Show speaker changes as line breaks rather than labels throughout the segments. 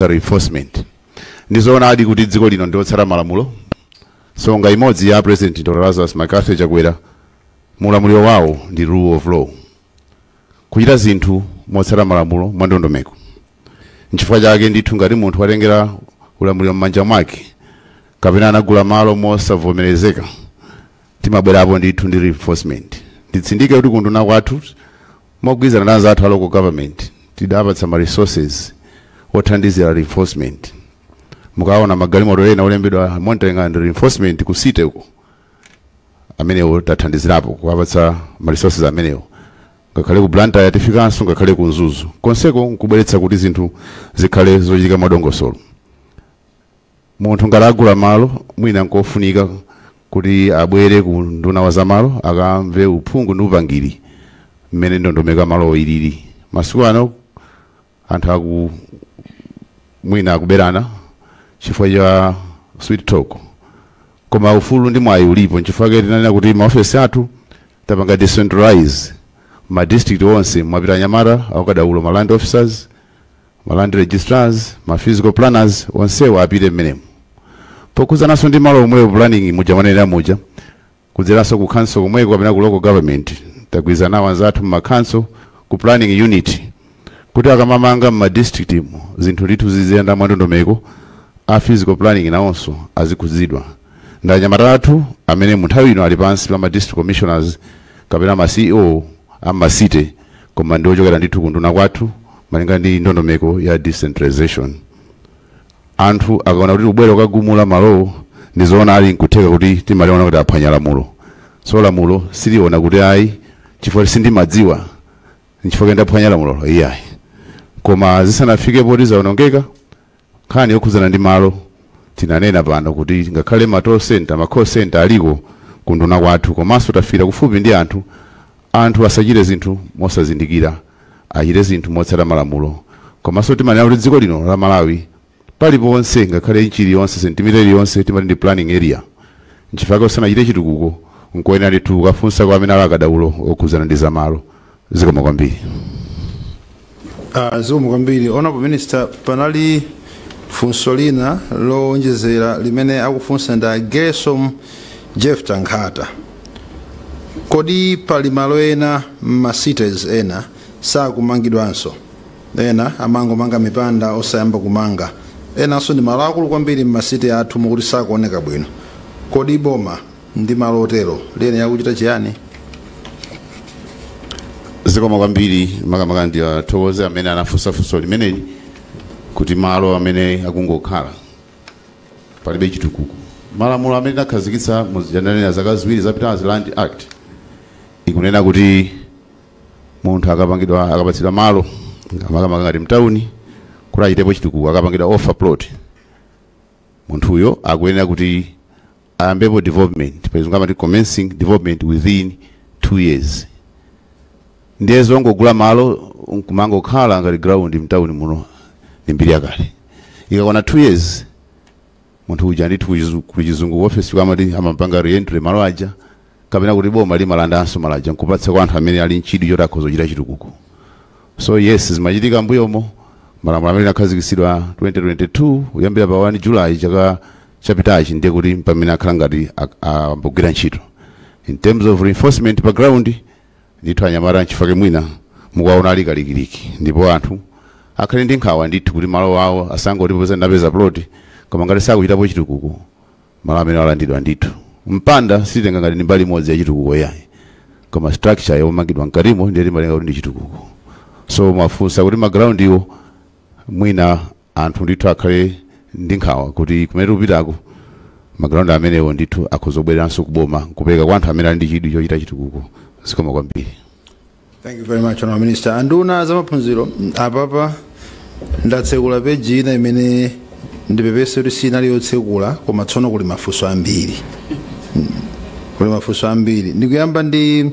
za enforcement ndizoonadi kuti dziko lino ndi lotsata malamulo nsonga imodzi ya a president dr lazarus mccarthy chakwera mu ulamuliro wawo ndi rule of law kuchita zinthu motsata malamulo mwa ndondomeko nchifukwa chake ndithu ngati munthu watengera ulamuliro m'manja mwake kapena anagula malo mosavomerezeka timabwerapo ndithu ndi enforcement nditsindike kuti ku unduna kwathu mogwirizana ndi anzathu a local government tidawapatsa ma resources othandizira enforcement mukaona magalimoto ena olembedwa monitoring and enforcement ku city uko amenewo tathandizirapo kuwapatsa ma resources amenewo ngakhale ku Blantyre tafikanso ngakhale ku Mzuzu konseko nkubweretsa kuti zinthu zikhale zochitika mwadongosolo Munthu ngati wagula malo mwina nkofunika kuti abwere ku unduna wa zamalo akamve uphungu ndi upangiri mmene ndondomeko ya malowo ilili. Masiku ano anthu aku mwina akuberana chifukwa cha sweet talk, koma ufulu ndi mwayi ulipo. Nchifukwa chake tinanena kuti maofesi athu tapanga decentralize ma district onse, mwapita anyamata aukadaulo ma land officers Ma land registrars, ma physical planners onsewo apite mmenemu. Pokhudzananso ndi malo omwewo planning muja mwanenera muja kudzeranso ku council komweko kapena ku local government tagwirizana nawo anzathu mma council ku planning unit kuti akamamanga mma district mu zinthu ndithu ziziyenda mwandondomeko a physical planning nawonso azikhudzidwa ndi anyamata athu amene mu nthawi ino ali pansi pa ma district commissioners kapena ma CEO a mma city koma ndi ochokera ndithu ku unduna kwathu malinga ndi ndondomeko ya decentralization anthu akaona kuti wabwera kukagumula malowo ndizoona ali nkutheka kuti timaliona kuti aphwanya lamulo so lamulo siliona kuti ayi chifukwa sindimadziwa nchifukwa ndaphwanya lamulo iyayi koma zisanafike poti zaonongeka Nkhani yokhudzana ndi malo tinanena pano kuti ngakhale ma toll centre, ma call centre aliko ku unduna kwathu komanso tafikira kufupi ndi anthu, anthu asachite zinthu mosazindikira achite zinthu motsata malamulo komanso timanena kuti dziko lino la Malawi paliponse ngakhale inchi iliyonse sentimita iliyonse timati ndi planning area nchifukwa chake usanachite chitukuko nkoyenera ndithu ukafunse kwa amene ali akadaulo okhudzana ndi zamalo zikomo kwambiri Ah, zikomo kwambiri honorable minister panali funso lina lowonjezera limene akufunsa ndi a gesom jeff tankhata kodi pali malo ena m'ma cities ena sakumangidwanso ena amangomanga mipanda osayamba kumanga enanso ndi malo akulu kwambiri m'ma cities athu moti sakuoneka bwino kodi boma ndi malo otero liyenera kuchita chiyani? zikomo kwambiri makamaka ndithokoze amene anafunsa funso limeneli kuti malo amene akungokhala palibe chitukuko malamulo amene tinakhazikitsa mu January zaka ziwiri zapitazi land act ikunena kuti munthu akapatsidwa malo makamaka ngati mtawuni kuti achitepo chitukuko akapangidwa offer plot munthuyo akuyenera kuti ayambepo development pachizungu amati commencing development within two years ndiye zongogula malo nkumangokhala ngati ground mtawuni muno ndi mbiri yakale ikakwana two years munthu uja ndithu kuchizu- kuchizungu office kwathu amati amapanga reentry malo aja kapena kuti boma limalandanso malo aja nkupatsa kwa anthu amene ali nchidwi choti akhoza kuchita chitukuko so yes zimachitika mbuyomo malamulo amene akhazikitsidwa 2022 kuyambira pa 1 july chaka chapitachi ndiye kuti pamene akhala ngati ak- ambogwira ntchito in terms of enforcement pa ground ndithu anyamata nchifake mwina mukuwaona ali kalikiliki ndipo anthu akhale ndi nkhawa ndithu kuti malo awo asangoti popeza ndapeza plot koma ngati sakuchitapo chitukuko Malo amenewa alandidwa ndithu. Mpanda sititenga ngati ndi mbali imodzi ya chitukuko iyayi. Koma structure yomangidwa mkatimo ndiye timatenga kuti ndi chitukuko. So mwafunsa kuti ma ground-wo mwina anthu ndithu akhale ndi nkhawa kuti kumene tikupitaku ma ground amenewo ndithu akhoza kubwereranso kuboma nkupeka kwa anthu amene ali ndi chidwi chochita chitukuko. Zikomo kwambiri. Thank you very much, Honorable Minister. Anduna za maphunziro mm, apapa ndatsekula peji ina imene ndipepese kuti sinali yotsekula koma tsono kuli mafunso ambiri Mm, kuli mafunso ambiri ndikuyamba ndi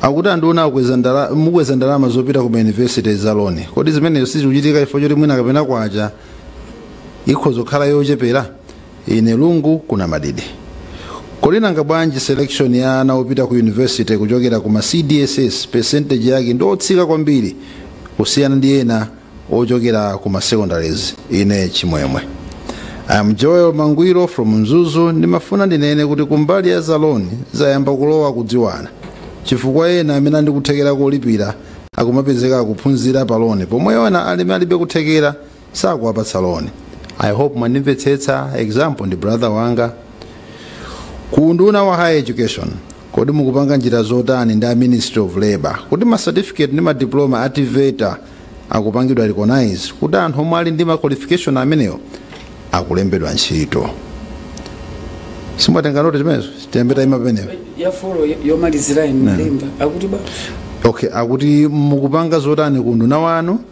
akuti anduna akweza ndala- mukweza ndalama zopita ku mayunivesiti za loni kodi zimenezo sizikuchitika chifukwa choti mwina kapena kwacha ikhoza kukhala yochepera Ine Lungu ku Namadidi. Kodi nanga bwanji selection ya ana opita ku university kuchokera ku ma CDSS percentage yake ndi otsika kwambiri kusiyana ndi ena ochokera ku ma secondary ena ine chimwemwe. I am Joel Mangwiro from Mzuzu ndimafuna ndinene kuti kumbali ya zaloni zayamba kulowa kudziwana chifukwa ena amene ali ndi kuthekera kolipira akumapezeka akuphunzira paloni pomwe ena alime alibe kuthekera sakuwapatsa loan i hope mwandimvetsetsa example ndi brother wanga ku unduna wa higher education kodi mukupanga njira zotani ndi a ministry of labor kuti ma certificate ndi ma diploma a TEVETA azipangidwa recognize kuti anthu omwe ali ndi ma qualification amenewo azilembedwa ntchito si mwatenga note chimenezo tiyambe tayima pamenepo ya four yomalizira inu malemba akuti ba okay akuti mukupanga zotani ku unduna wanu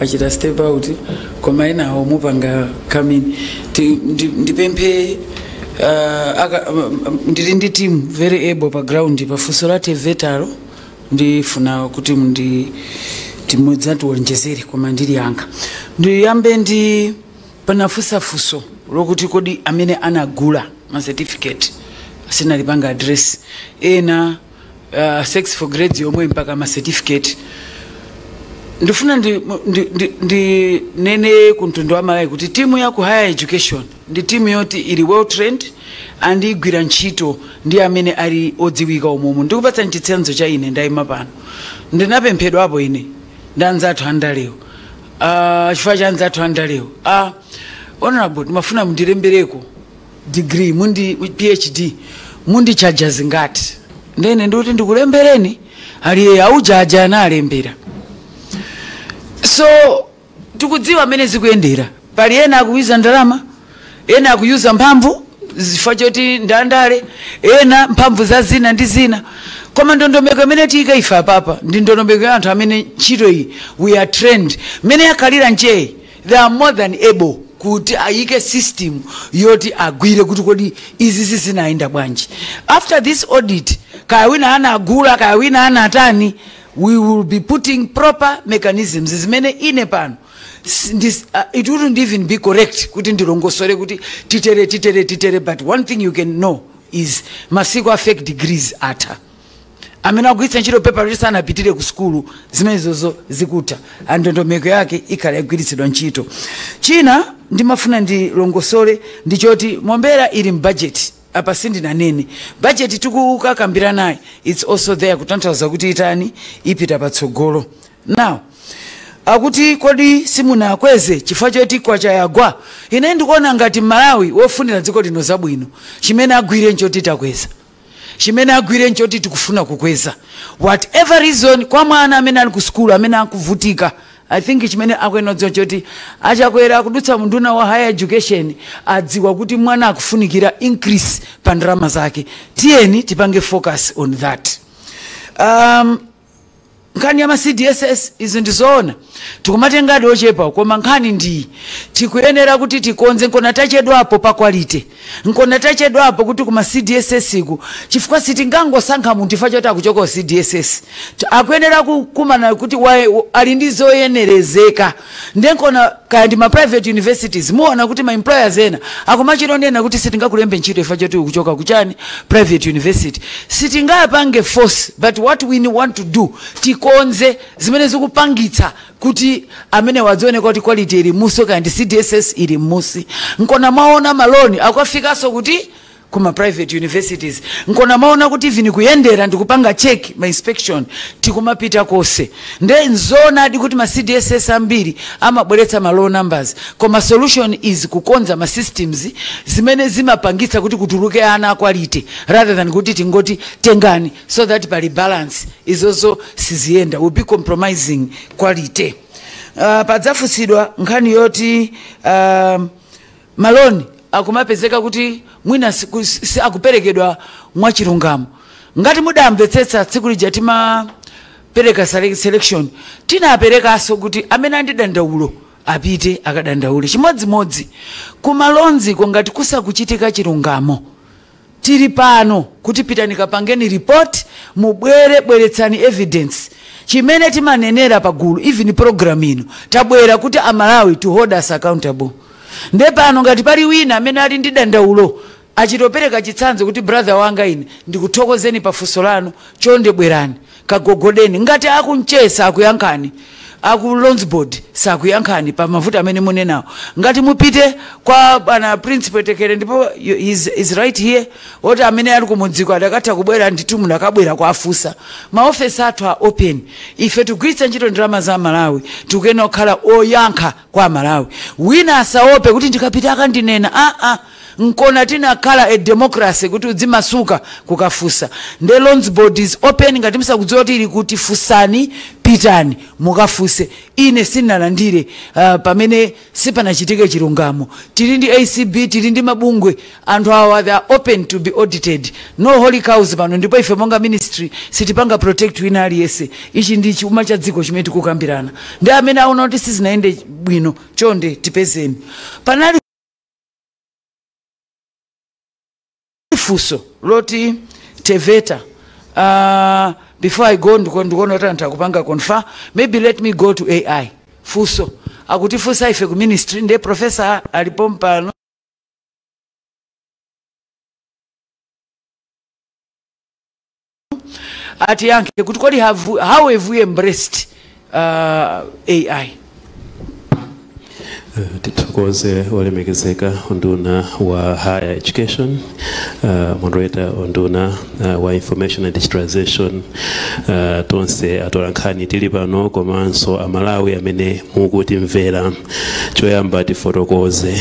achita step out koma enawo mupanga come in ndipemphe ah, aka- m- ndili ndi team very able pa ground pa funso la TEVET-lo ndifuna kuti ndi team idzatiwonjezere koma ine langa ndiyambe ndi pamene anafunsa funso lokuti kodi amene anagula ma certificate sindinalipange address ena uh, sex for grades yomwe mpaka ma certificate ndifuna ndi, ndi, ndi, ndinene kumtundu wa aMalawi kuti timu ya ku higher education ndi timu yoti ili well trained and ikugwira ntchito ndi amene ali odziwika umumu ndikupatsani chitsanzo cha ine ndayima pano ndinapemphedwapo ine ndi anzathu andalewo uh, chifukwa cha anzathu andalewo uh, honorable ndimafuna mundilembereko degree mu ndi PhD mundichaja zingati nde ine ndikuti ndikulembereni alipo aujeni aja analembera so tikudziwa amene zikuyendera pali ena akuyuza ndalama ena akuyuza mphamvu chifukwa choti ndi andale ena mphamvu za zina ndi zina koma ndondomeko imene tiyika ife apapa ndi ndondomeko ya anthu amene ntchito iyi we are trained mmene yakhalira ntchitoyi They are more than able kuti ayike system yoti agwire kuti kodi izizi zinayenda bwanji. After this audit, kaya wina anagula, kaya wina anatani, we will be putting proper mechanisms zimene ine pano s- ndis- uh, it wouldn't even be correct kuti ndilongosole kuti titere titere titere but one thing you can know is masiku a fake degrees atha amene akugwiritsa ntchito pepala koma sanapitire ku sukulu zimenezozo zikutha ndondomeko yake ikhala ikugwiritsidwa ntchito china ndimafuna ndilongosole ndi choti mombera ili mu bajeti apa sindinanene bajeti tikukakambiranayi its also there kutanthauza kuti itani ipita patsogolo now akuti kodi simunakweze chifukwa choti kwacha yagwa ine ndikuona ngati Mmalawi wofunira dziko lino zabwino chimene agwire nchoti takweza chimene agwire nchoti tikufuna kukweza whatever reason kwa mwana amene ali ku sukulu amene akuvutika i think chimene akuyenera kudziwa nchoti a Chakwera kudutsa mwa nduna ya higher education adziwa kuti mwana akufunikira increase pa ndalama zake tiyeni tipange focus on that um, nkhani ya ma cdss izi ndi zoona tikumatengadi ochepa koma nkhani ndiyi tikuyenera kuti tikonze nkona tachedwapo pa quality nkona tachedwapo kuti kuma cdss ku chifukwa sitingangosankha munthu chifukwa choti akuchoka ku cdss T- akuyenera kukumana kuti wa- ali ndi zoyenerezeka nde nkona kaya ndi ma private universities muwona kuti ma employers ena akumachita kunena kuti sitingakulembe ntchito chifukwa choti ukuchoka kuchani private university sitingapange force but what we want to do tikonze zimene zikupangitsa kuti amenewa adziona kuti quality ili musi kaya ndi cdss ili musi nkona mwaona maloni akufikanso kuti ku ma private universities nkona mwaona kuti even kuyendera ndi kupanga check ma inspection tikumapita konse nde nzoonadi kuti ma cdss ambiri amabweretsa ma low numbers koma solution is kukonza ma systems zimene zimapangitsa kuti kutuluke ana a quality rather than kuti tingoti tengani so that pali balance izozo siziyenda we'll be compromising quality uh, panafunsidwa nkhani yoti um, Ma loan akumapezeka kuti mwina siku- si- akuperekedwa mwachilungamo. Ngati mudamvetsetsa tsiku lija timapereka sele- selection tinaperekanso kuti amene ali ndi dandaulo apite akadandaule chimodzimodzi ku ma loans-ko ngati sikukuchitika chilungamo Tili pano kuti pitani kapangeni report mubwere bweretsani evidence chimene timanenera pa gulu even program ino tabwera kuti a Malawi to hold us accountable nde pano ngati pali wina amene ali ndi dandaulo achite kupereka chitsanzo kuti brother wanga ine ndikuthokozeni pa funso lanu chonde bwerani kagogodeni ngati aku NCHE sakuyankhani aku loans board sakuyankhani pa mavuto amene mukunenawo ngati mupite kwa bwana Prince Phwetekere ndipo you- is, is right here oti amene ali kumudziko akadatha kubwera ndithu munakabwera kuwafunsa maofesi athu are open ife tikugwiritsa ntchito ndalama za aMalawi tikuyenera kukhala oyankha kwa aMalawi wina asaope kuti ndikapita akandinena aa ah, ah. nkona tinakhala pa democracy kuti udzimasuka kukafunsa nde loans board is open ngati musakudziwa kuti ili kuti funsani pitani mukafunse ine sindinalandire uh, pamene sipanachitike chilungamo tili ndi acb tili ndi mabungwe athu awa they are open to be audited no holy cows pano ndipo ife monga ministry sitipanga protect wina aliyense ichi ndi chuma cha dziko chimene tikukambirana ndi amene aona kuti sizinayende bwino chonde tipezeni panali funso la TEVETA uh, before i go ndiko- ndikuona kuti anthu akupanga confer maybe let me go to ai funso akuti funsa ife ku ministry ndiye profesa ali pompano atiyankhe kuti kodi have, how have we embraced uh, ai tithokoze olemekezeka unduna wa higher education uh, moderator, unduna uh, wa information and digitalization uh, tonse atolankhani tili pano komanso amalawi amene mukutimvera choyamba tifotokoze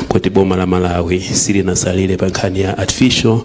kuti boma la malawi silinasalire pa nkhani ya artificial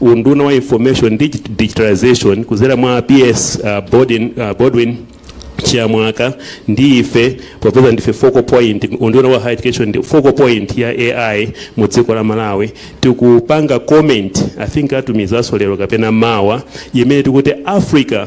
Unduna wa Information and Digitalisation kudzera mwa PS Baldwin Chiyamwaka ndi ife popeza ndife focal point, unduna wa Higher Education ndi focal point ya AI mu dziko la Malawi, tikupanga comment, I think atumizanso lero kapena mawa, imene tikuti Africa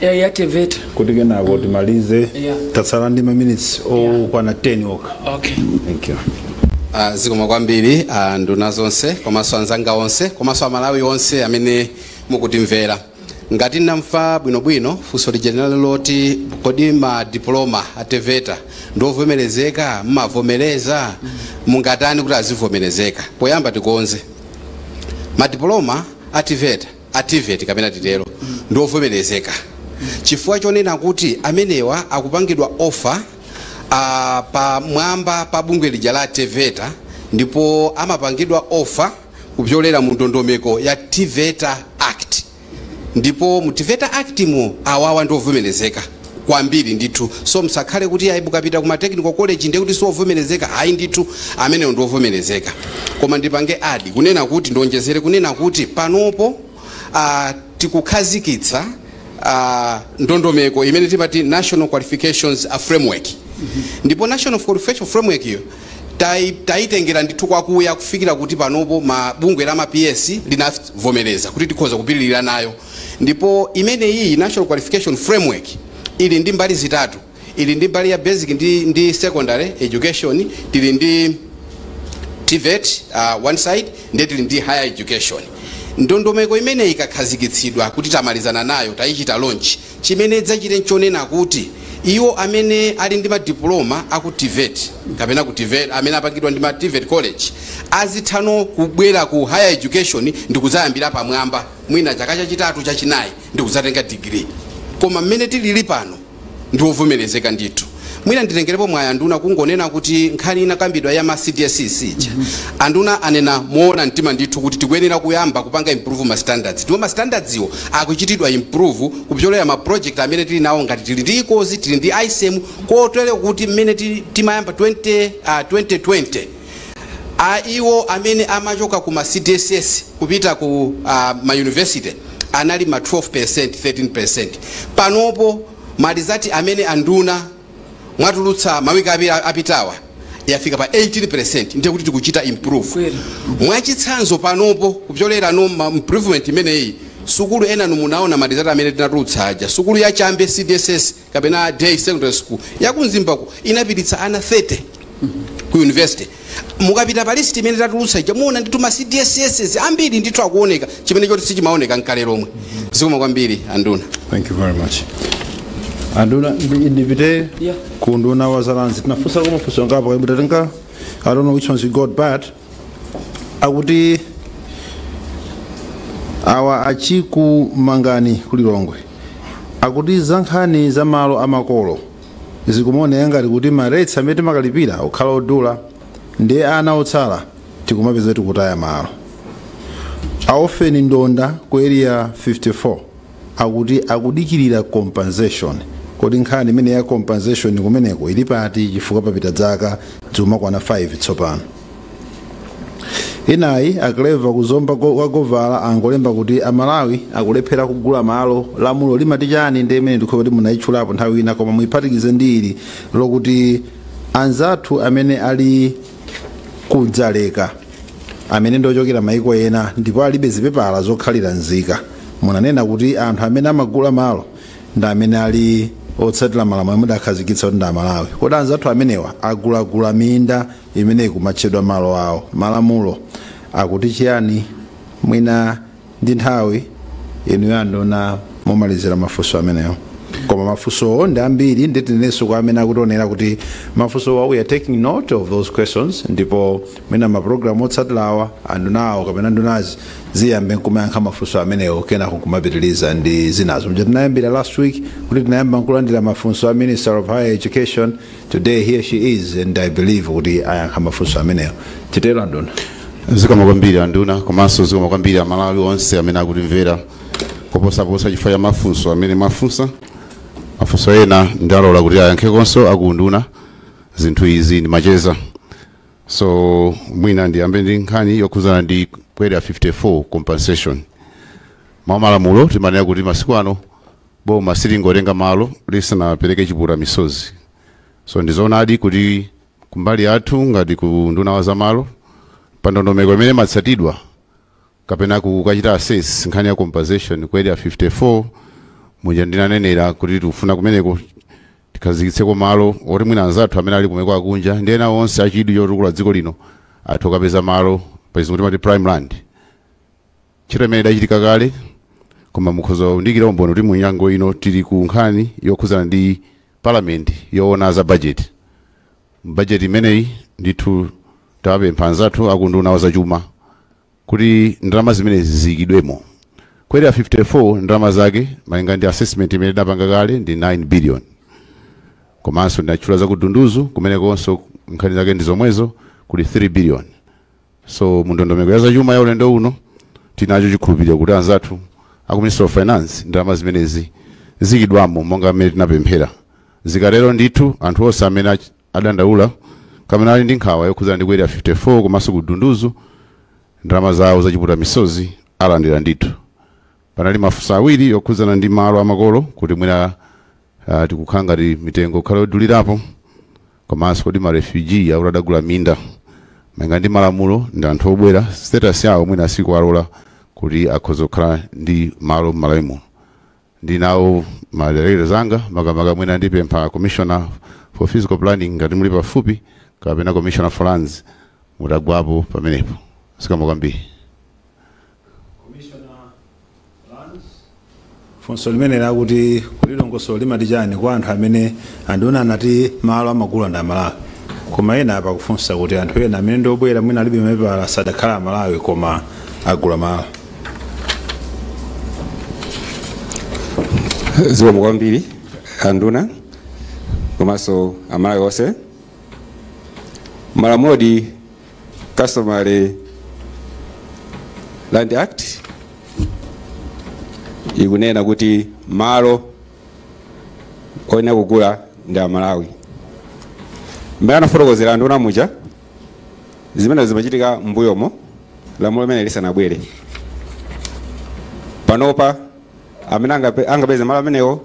ya ya teveta kuti kenako timalize Yeah. tatsala ndi maminitsi okwana 10 okha okay thank you Ah, zikomo kwambiri anduna zonse komanso anzanga onse komanso amalawi onse amene mukutimvera ngati ndamva bwinobwino funso lija linali loti kodi ma diploma a TVET ndiovomerezeka mumavomereza mungatani kuti azivomerezeka poyamba tikonze madiploma a TVET a TVET kapena titero, ndi ovomerezeka chifukwa chonena kuti amenewa akupangidwa offer a pamwamba pa bungwe lija la Teveta ndipo amapangidwa offer kupyolera mu ndondomeko ya Teveta Act ndipo mu Teveta Act mo awawa ndi ovomerezeka. kwambiri ndithu so msakhale kuti ayi mukapita kuma technical college ndiye kuti siwovomerezeka ayi ndithu amenewo ndi wovomerezeka koma ndipange add kunena kuti ndionjezere kunena kuti panopo uh, tikukhazikitsa uh, ndondomeko imene timati national qualifications uh, framework ndipo national qualification framework iyo tai- taitengera ndithu kwakuya kufikira kuti panopo bungwe la maps linavomereza kuti tikhoza kupitirira nayo Ndipo imeneyiyi National Qualification Framework ili ndi mbali zitatu. Ili ndi mbali ya basic ndi, ndi secondary education, tili ndi TVET uh, one side ndiye tili ndi higher education. Ndondomeko imeneyi ikakhazikitsidwa kuti tamalizana nayo tayichita launch, chimene idzachite nchonena kuti iwo amene ali ndi madiploma aku TVET kapena ku TVET amene apangidwa ndi ma TVET college azitha no kubwera ku higher education ndi kudzayambira pamwamba mwina chaka chachitatu chachinayi ndikudzatenga digiri koma mmene tilili pano ndi wovomerezeka ndithu mwina nditengerepo mwayi anduna kungonena kuti nkhani inakambidwa ya ma cdss ija anduna anena moona mtima ndithu kuti tikuyenera kuyamba kupanga improve ma standards ndipo ma standardswo akuchitidwa improve kupyolera ma project amene tili nawo ngati tili ndi EQUALS tili ndi ISEM kotero kuti mmene ti- timayamba 20, ah, 2020 a iwo amene amachoka ku ma cdss kupita ku a, ma university anali ma 12% 13% panopo ma results amene anduna mwatulutsa mawiki awiri apitawa yafika pa 18% ndiye kuti tikuchita improve Kweli. mwachitsanzo panopo kupyolera mu ma improvement imeneyi sukulu enanu munaona ma results amene tinatulutsa aja sukulu ya chambe cdss kapena day secondary school yakumzimbako inapititsa ana 30 ku university mukapita pa list imene tatulutsa ija muona ndithu ma cdss ambiri ndithu akuoneka chimene choti sichimaoneka nkale lomwe zikoma kwambiri anduna Thank you very much. Anduna ndi- ndipite Yeah. ku unduna wa za lands tinafunsa koma funso ngapo kuti tatenga I don't know which ones you got bad akuti awa a Chikumangani kulilongwe akuti za nkhani za malo amakolo zikumaoneka ngati kuti ma rates amene timakalipira akukhala odula ndiye ana otsala tikumapeza tikutaya malo a Orphan Ndonda ku area 54 akuti akudikilira compensation kodi nkhani imeneyi ya compensation kumeneko ili pati chifukwa papita dzaka dzikukwana 5 tsopano inayi a Clever ku Zomba go- wa govala angolemba kuti amalawi akulephera kugula malo lamulo limati chani ndi imene ndikuona kuti munayitchulapo nthawi ina koma muyiphatikize ndi ili lokuti anzathu amene ali kudzaleka amene ndiochokera maiko ena ndipo alibe zipepala zokhalira nzika Munanena kuti anthu amene amagula malo ndi amene ali otsatira malamulo amene mudakhazikitsa kuti ndi Amalawi. Kodi anzathu amenewa agulagula minda imene ikumatchedwa malo awo? Malamulo akuti chiyani? Mwina ndi nthawi inuyo anduna mumalizira mafunso amenewo. Koma mafunsowo ndi ambiri ndiye tinenenso kwa amene akutionera kuti mafunsowa we are taking note of those questions ndipo mwina mapulogalamu otsatirawo andunawo kapena ndunazi ziziyamba nkumayankha mafunso amenewo kenako nkumapitiriza ndi zinazo mja tinayambira last week kuti tinayamba nkulandira mafunso a minister of higher education today here she is and i believe kuti ayankha mafunso amenewo titero anduna zikoma kwambiri anduna komanso zikoma kwambiri amalawi onse amene akutimvera koposaposa chifukwa cha mafunso amene mwafunsa mafunso ena ndalola kuti ayankhekonso aku unduna zinthu izi ndi macheza so mwina ndiyambe ndi nkhani yokhudzana ndi ku area 54 compensation mwa malamulo timanena kuti masiku ano boma silingotenga malo lisanapereke chipukuta misozi so ndizoonadi kuti kumbali yathu ngati ku unduna wa zamalo pa ndondomeko imene imatsatidwa kapena kukachita assess nkhani ya compensation ku area 54 muja ndinanenera kuti tikufuna kumeneko Tikhazikitseko malo oti mwina anzathu amene ali kumaiko akunja ndi ena onse a chidwi chotukula dziko lino athe kukapeza malo, pachizungu timati prime land. Ntchito imeneyi idachitika kale koma mukhoza kundiikira umboni kuti mu nyengo ino tili ku nkhani yokhudzana ndi parliament yowona za budget. Mu budget imeneyi ndithu tawapempha anzathu a ku unduna wa zachuma. kuti ndalama zimenezi ziyikidwemo ku area 54 ndalama zake malinga ndi assessment imene tinapanga kale ndi 9 billion komanso ndinatchula za kudunduzu kumenekonso nkhani zake ndi zomwezo kuli 3 billion so mundondomeko ya zachuma ya ulendo uno tinacho chikhulupiriro kuti anzathu aku ministry of finance ndalama zimenezi ziyikidwamo monga mmene tinapemphera zikatero ndithu anthu onse amene ach- adandaula kapena ali ndi nkhawa yokhudzana ndi ku area 54 komanso ku dunduzu ndalama zawo zachipukuta misozi alandira ndithu panali mafunso awiri yokhudzana ndi malo amakolo kuti mwina uh, tikukhala ngati mitengo kukhala yodulirapo komanso kodi marefugee akuti adagula minda malinga ndi malamulo ndi anthu obwera status yawo mwina sikuwalola kuti akhoza kukhala ndi malo m'malawi muno ndi nawo ma directors anga makamaka mwina ndipempha commissioner for physical planning ngati muli pafupi kapena commissioner for lands mutagwapo pamenepo zikomo kwambiri funso limene lakuti kodi dongosolo limati chani kwa anthu amene anduna anati malo amagula ndi amalawi koma ena apa akufunsa kuti anthu ena amene ndiobwera mwina alibe mapepala sadakhala amalawi koma agula malo zikomo kwambiri anduna komanso amalawi onse malamulo a customary land act ikunena kuti malo oyenera kugula ndi amalawi mmene anafotokozera anduna muja zimenezo zimachitika m'mbuyomo lamulo limene lisanabwere panopa amene angape- angapeze malo amenewo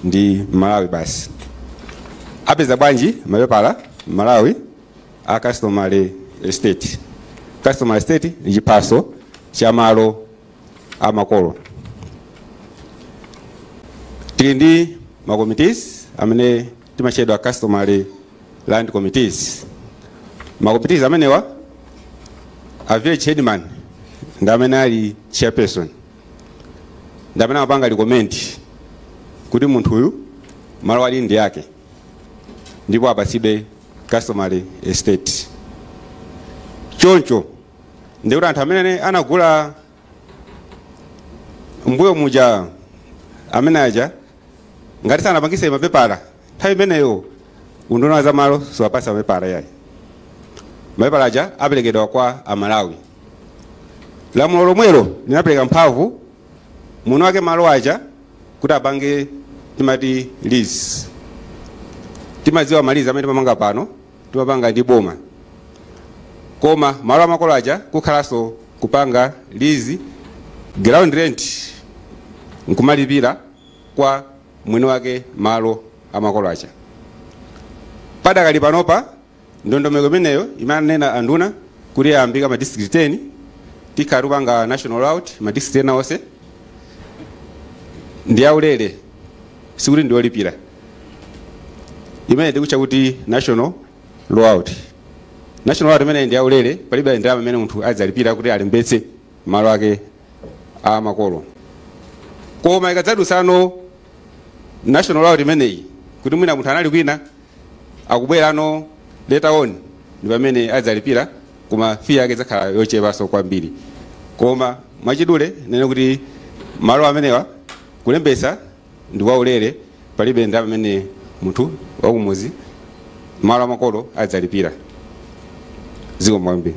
ndi mmalawi basi apeza bwanji mapepala mmalawi a customary estate customary estate ndi chiphaso cha malo a makolo tili ndi makomitis amene amatchedwa customary land committees ma committees amenewa a village headman ndi amene ali chairperson ndi amene amapanga recommend kuti munthu uyu malo awa ndi ake ndipo apatsidwe customary estate choncho ndikuti anthu amene anagula mbuyo muja amene aja ngati sanapangise mapepala nthawi imeneyo unduna wa zamalo sumawapasa mapepala yayi mapepala aja aperekedwa kwa amalawi lamulo lomwelo linapereka mphamvu mwini wake malo aja kuti apange timati lease timadziwa ma lease amene timapanga pano timapanga ndi boma koma malo amakolo aja kukhalanso kupanga lease ground rent nkumalipira kwa mwini wake malo amakolo aja padakali panopa ndondomeko imeneyo imene amanena anduna kuti yayambika ma district 10 tikhala tikupanga national rollout ma district ena onse ndi yaulere sikuti ndiolipira imene tikutcha kuti national rollout national rollout imeneyi ndi yaulere palibe ndalama imene munthu adzalipira kuti alembetse malo ake a makolo koma ikadzadutsano national rollout imeneyi kuti mwina munthu anali kwina akubwerano later on ndi pamene adzalipira koma fee yake idzakhala yochepanso kwambiri koma mwachidule ndinene kuti malo amenewa Kulembetsa ndi kwa ulere palibe ndalama imene munthu wakumudzi malo amakolo adzalipira. Zikomo kwambiri.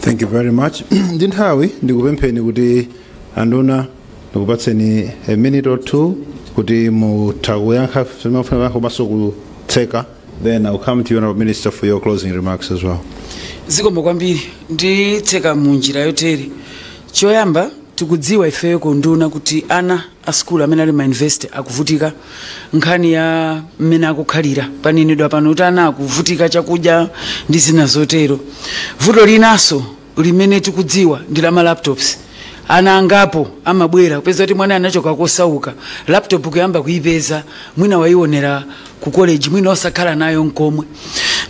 thank you very much ndi nthawi ndikupempheni kuti anduna ndikupatseni a minute or two kuti mutha kuyankha zimene mufuna kuyankha komanso kutseka then I'll come to you honorable minister for your closing remarks as well zikomo kwambiri nditseka mu njira yotere Choyamba, tikudziwa ifeyo ku unduna kuti ana a sukulu amene ali ma university akuvutika nkhani ya mmene akukhalira. Panenedwa pano kuti ana akuvutika chakudya ndi zina zotero. Vuto linanso limene tikudziwa ndi la ma laptops. Ana angapo amabwera kupeza kuti mwana anachoka kosauka, laptop kuyamba kuipeza, mwina waionera ku college, mwina osakhala nayo nkomwe.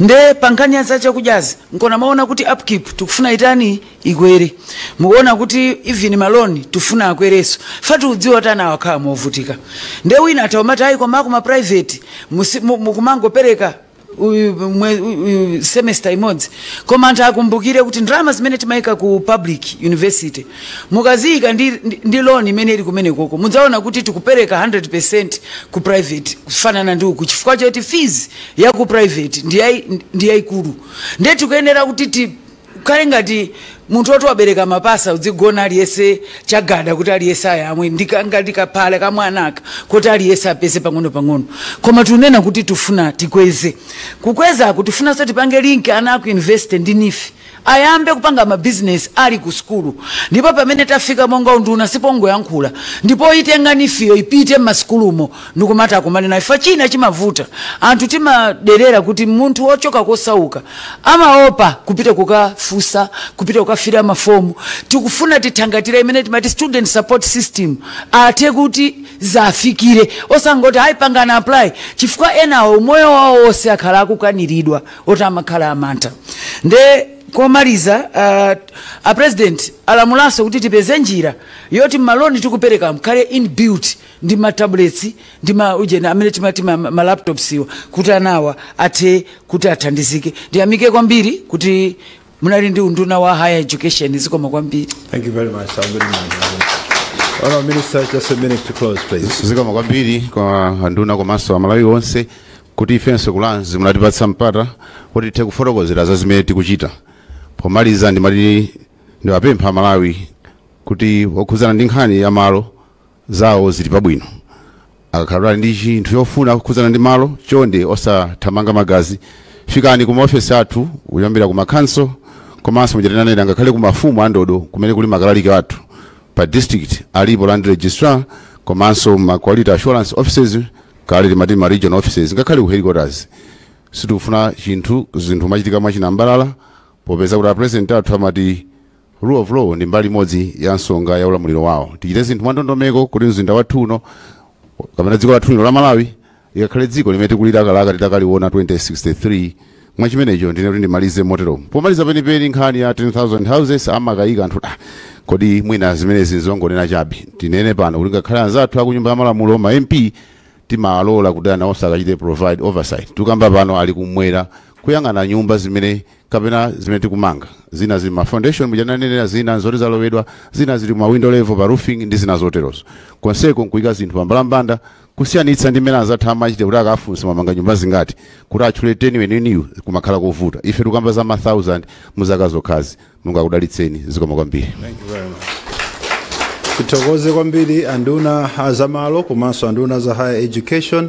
Nde pa nkhani ya za chakudyazi, mukumaona kuti upkeep tikufuna itani? ikwere mukuona kuti even ma loan tifuna akwereso chifukwa tikudziwa kuti ana akukhala movutika nde wina atha kumati ayi koma akuma private musi- mu- mukumangopereka uyu- mwe- uyu- semester imodzi koma anthu akumbukire kuti ndalama zimene timayika ku public university mukaziyika ndi, ndi, ndi loan imene ili kumene koko mudzaona kuti tikupereka 100 ku private kufanana ndi uku chifukwa choti fees ya ku private ndi yayi- ndi yayikulu nde tikuyenera kuti ti Kukhale ngati munthu oti wabereka mapasa udzigona aliyese chagada kuti aliyese ayamwe ndika- ngati kaphala kamwana aka kuti aliyese apeze pang'ono-pang'ono koma tikunena kuti tufuna tikweze kukwezaku tikufunanso tipange link ana aku university ndi NEEF ayambe kupanga mabizinesi ali ku sukulu ndipo pamene tafika monga unduna sipongoyankhula ndipo itenga NEEF-yo ipite m'masukulumo ndikumati akumane naye NEEF china chimavuta anthu timaderera kuti munthu wochoka kosauka amaopa kupita kukafunsa kupita kukafila mafomu tikufuna tithangatire imene timati student support system athe kuti zafikire osangoti ayi panganani apply chifukwa enawo umoyo wawo wonse akhala akukanizidwa oti amakhala amantha nde komaliza uh, a president alamulanso kuti tipeze njira yoti maloni tikupereka mukhale inbuilt ndi ma tablets ndi ma ujeni amene timati ma, ma laptops aja kuti anawa athe kuti athandizike ndiyamike kwambiri kuti munali ndi unduna wa higher education zikomo kwambiri Thank you very much. I'll good night. Honorable Minister, just a minute to close, please. zikomo kwambiri kwa anduna komanso amalawi onse kuti ifenso ku Lands munatipatsa mpata kuti tithe kufotokozera za zimene tikuchita pomaliza ndimati ndiwapempha amalawi kuti okhudzana ndi nkhani ya malo zawo zili pabwino. Akakhala kuti ali ndi chinthu chofuna kukhudzana ndi malo, chonde osathamanga magazi. Fikani ku maofesi athu kuyambira ku ma council komanso muja tinanena ngakhale ku mafumu a ndodo kumene kuli makalaliki athu pa district alipo land registrar komanso ma quality assurance offices kale timati ma regional offices ngakhale ku headquarters sitikufuna kuti zinthu zimachitika mwachinambalala popeza kuti a president athu amati Rule of law ndi mbali imodzi ya nsanamira ya ulamuliro wawo. Tichite zinthu mwandondomeko kuti mzinda wathu uno kapena dziko lathu lino la Malawi likakhale dziko limene tikulilakalaka titakaliona 2063 mwa chimenecho ndinene kuti ndimalize motero pomaliza penipeni nkhani ya 10000 houses amakayika anthu ah, kodi mwina zimenezi nzongonena chabe tinene pano kuti ngakhale anzathu akunyumba ya malamulo ma mp timalola kuti nawonso akachite provide oversight tikamba pano ali kumwera kuyang'ana nyumba zimene kapena zimene tikumanga zina zili ma foundation muja ndanenera zina zoti zalowedwa zina zili ma window level pa roofing ndi zina zoterozo konseko nkuika zinthu pa mbalambanda kusiyanitsa ndi mmene anzathu amachita kuti akafunsa mamanga nyumba zingati kuti atchule teni weneniyu kumakhala kovuta ife tikamba za ma 1000 mu zaka zokhazi mulungu akudalitseni zikomo kwambiri tithokoze kwambiri anduna azamalo komanso anduna a za higher education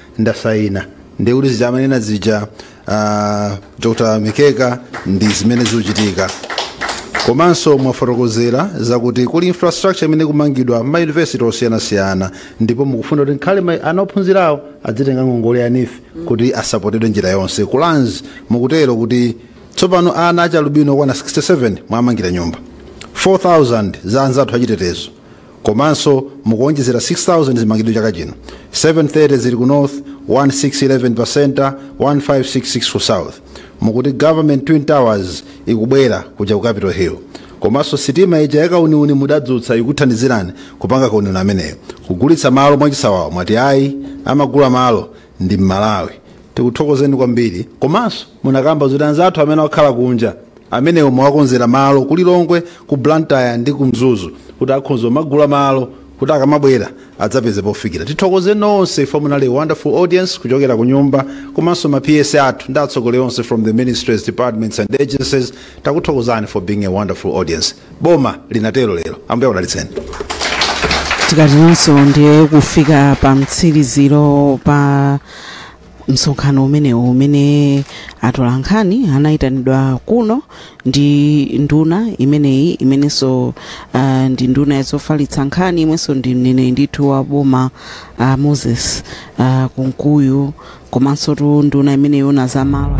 ndasaina ndi zija amanena zija uh, dr mikeka ndi zimene zikuchitika komanso mwafotokozera zakuti kuli infrastructure imene kumangidwa m'ma university osiyanasiyana ndipo mukufuna kuti nkhale ma- ana ophunzirawo adzitenga ngongole ya nefi kuti asapotedwe njira yonse kulanzi mukutero kuti tsopano ana achialubino okwana 67 mwamangira nyumba 4000 za anzathu achitetezo komanso mukuonjezera 6000 zimangidwe chaka chino 730 zili ku north 1611 pa centre 1566 ku south mukuti government twin towers ikubwera kuja ku capital hill komanso sitima ija yakauniuni mudadzutsa ikuthandizirani kupanga kauniuni ameneyo kugulitsa malo mwachisawawa mwati ayi amagula malo ndi mmalawi tikuthokozeni kwambiri komanso munakamba zoti anzathu amene akukhala kunja amene mwawakonzera malo ku lilongwe ku blantyre ndi ku mzuzu kuti akhoza kumagula malo kuti akamabwera adzapeze pofikira tithokoze nonse ife munali a wonderful audience kuchokera ku nyumba komanso ma ps athu ndi atsogoleri onse from the ministries departments and agencies takuthokozani for being a wonderful audience boma linatero lero ambuye akudalitseni tikatero ndiye kufika pa mtsiriziro pa msonkhano umenewu umene atolankhani anayitanidwa kuno ndi nduna imeneyi imenenso uh, ndi nduna yazofalitsa nkhani imwenso ndi mneneri ndithu wa boma uh, moses uh, kunkuyu komansotu nduna imene imaona za malo